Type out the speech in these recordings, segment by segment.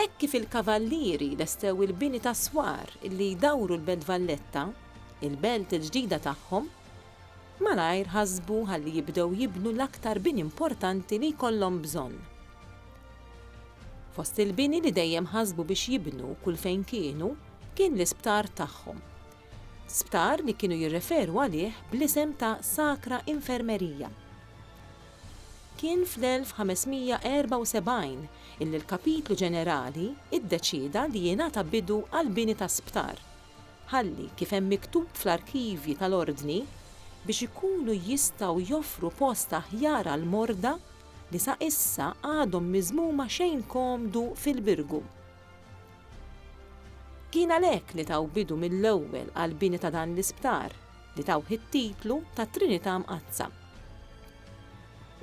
Hekk kif il-Kavallieri lestew il-bini ta' swar li jdawru l-Belt Valletta, il-belt il-ġdida tagħhom, malajr ħasbu ħalli jibdew jibnu l-aktar bini importanti li jkollhom bżonn. Fost il-bini li dejjem ħasbu biex jibnu kull fejn kienu kien l-isptar tagħhom. Sptar li kienu jirreferu għalih bl-isem ta' Sacra Infermeria. Kien fl-1574 illi l-Kapitlu Ġenerali ddeċieda li jingħata bidu għall-bini ta' sptar, ħalli, kif hemm miktub fl-arkivji tal-Ordni, biex ikunu jistgħu joffru post aħjar għall-morda li sa issa għadhom miżmuma xejn komdu fil-Birgu. Kien għalhekk li taw bidu mill-ewwel għall-bini ta' dan l-isptar. li tawh it-titlu ta' Trinità Mqaddsa.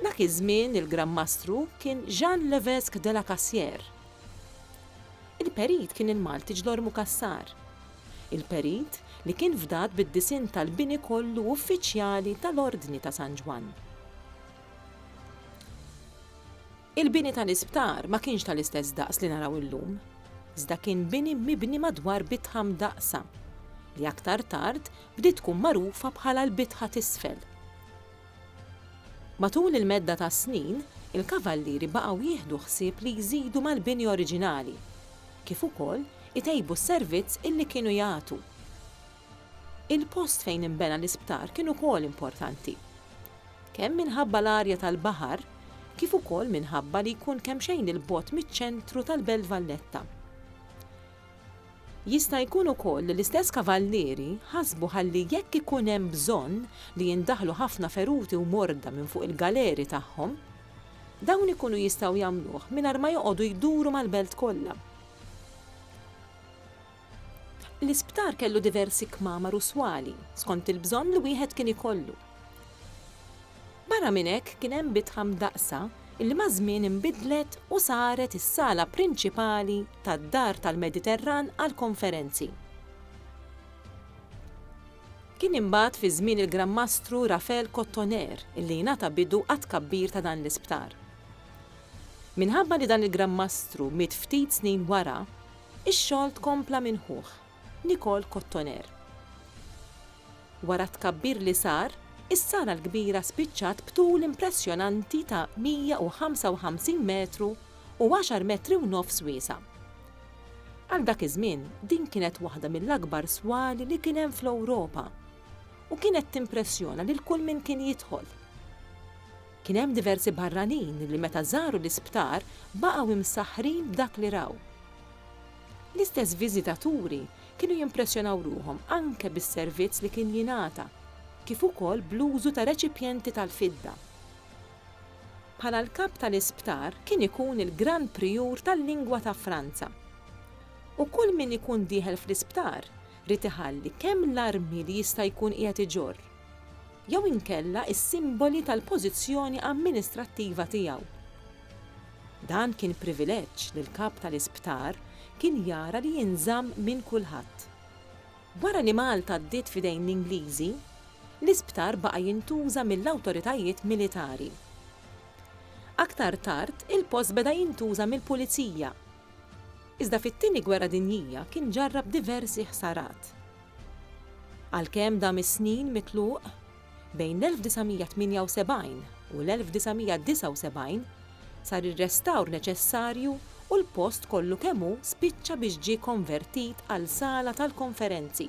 Dak iż-żmien il-Gran Mastru kien Jean Levesque de la Cassière. Il-Perit kien il-Malti Ġlormu Cassar. Il-Perit li kien fdat bid-disinn tal-bini kollu uffiċjali tal-Ordni ta' San Ġwann. Il-bini tal-isptar ma kienx tal-istess daqs li naraw illum, iżda kien bini mibni madwar bitħa mdaqqsa, li aktar tard bdiet tkun magħrufa bħala l-bitħa t'isfel. Matul il-medda tas-snin, il-Kavallieri baqgħu jieħdu ħsieb li jżidu mal-bini oriġinali, kif ukoll itejbu s-servizz illi kienu jagħtu. Il-post fejn inbena l-isptar kien ukoll importanti. Kemm minħabba l-arja tal-baħar kif ukoll minħabba li jkun kemxejn 'il bogħod miċ-ċentru tal-Belt Valletta. Jista' jkun ukoll li l-istess kavallieri ħasbu ħalli jekk ikun hemm bżonn li jindaħlu ħafna feruti u morda minn fuq il-galeri tagħhom, dawn ikunu jistgħu jagħmluh mingħajr ma joqogħdu jduru mal-belt kollha. L-isptar kellu diversi kmamar u swali, skont il-bżonn li wieħed kien ikollu. Barra minn hekk kien hemm bitħa mdaqqsa li maż-żmien inbidlet u saret is-sala prinċipali tad-Dar tal-Mediterran għall-konferenzi. Kien imbagħad fi żmien il-Gran Mastru Raphael Cottoner li jingħata bidu għat-tkabbir ta' dan l-isptar. Minħabba li dan il-Gran Mastru miet ftit snin wara, Ix-xogħol tkompla minn ħuh, Nicole Cottoner. Wara t-tkabbir li sar, is-Sala l-Kbira spiċċat b'tul impressjonanti ta' 155 metru u għaxar metri u nofs wiesa'. Għal dak iż-żmien din kienet waħda mill-akbar swali li kien hemm fl-Ewropa u kienet timpressjona lil kull min kien jidħol. Kien hemm diversi barranin li meta żaru l-isptar baqgħu imsaħħrin b'dak li raw. L-istess viżitaturi kienu jimpressjonaw ruħhom anke bis-servizz li kien jingħata, kif ukoll bl-użu ta' reċipjenti tal-fidda. Bħala l-kap tal-isptar kien ikun il-Gran Prijur tal-Lingwa ta' Franza. U kull min ikun dieħel fl-isptar Ried iħalli kemm l-armi li jista' jkun qiegħed iġorr jew inkella s-simboli tal-pożizzjoni amministrattiva tiegħu. Dan kien privileġġ li l-Kap tal-Isptar kien jara li jinżamm minn kulħadd. Wara li Malta għaddiet f'idejn l-Ingliżi, l-isptar baqa' jintuża mill-awtoritajiet militari. Aktar tard il-post beda jintuża mill-Pulizija. Iżda fit-Tieni Gwerra Dinjija kien ġarrab diversi ħsarat. Għalkemm dam is-snin mitluq, bejn l-1978 u l-1979 sar ir-restawr neċessarju u l-post kollu kemm hu spiċċa biex ġie konvertit għal sala tal-konferenzi.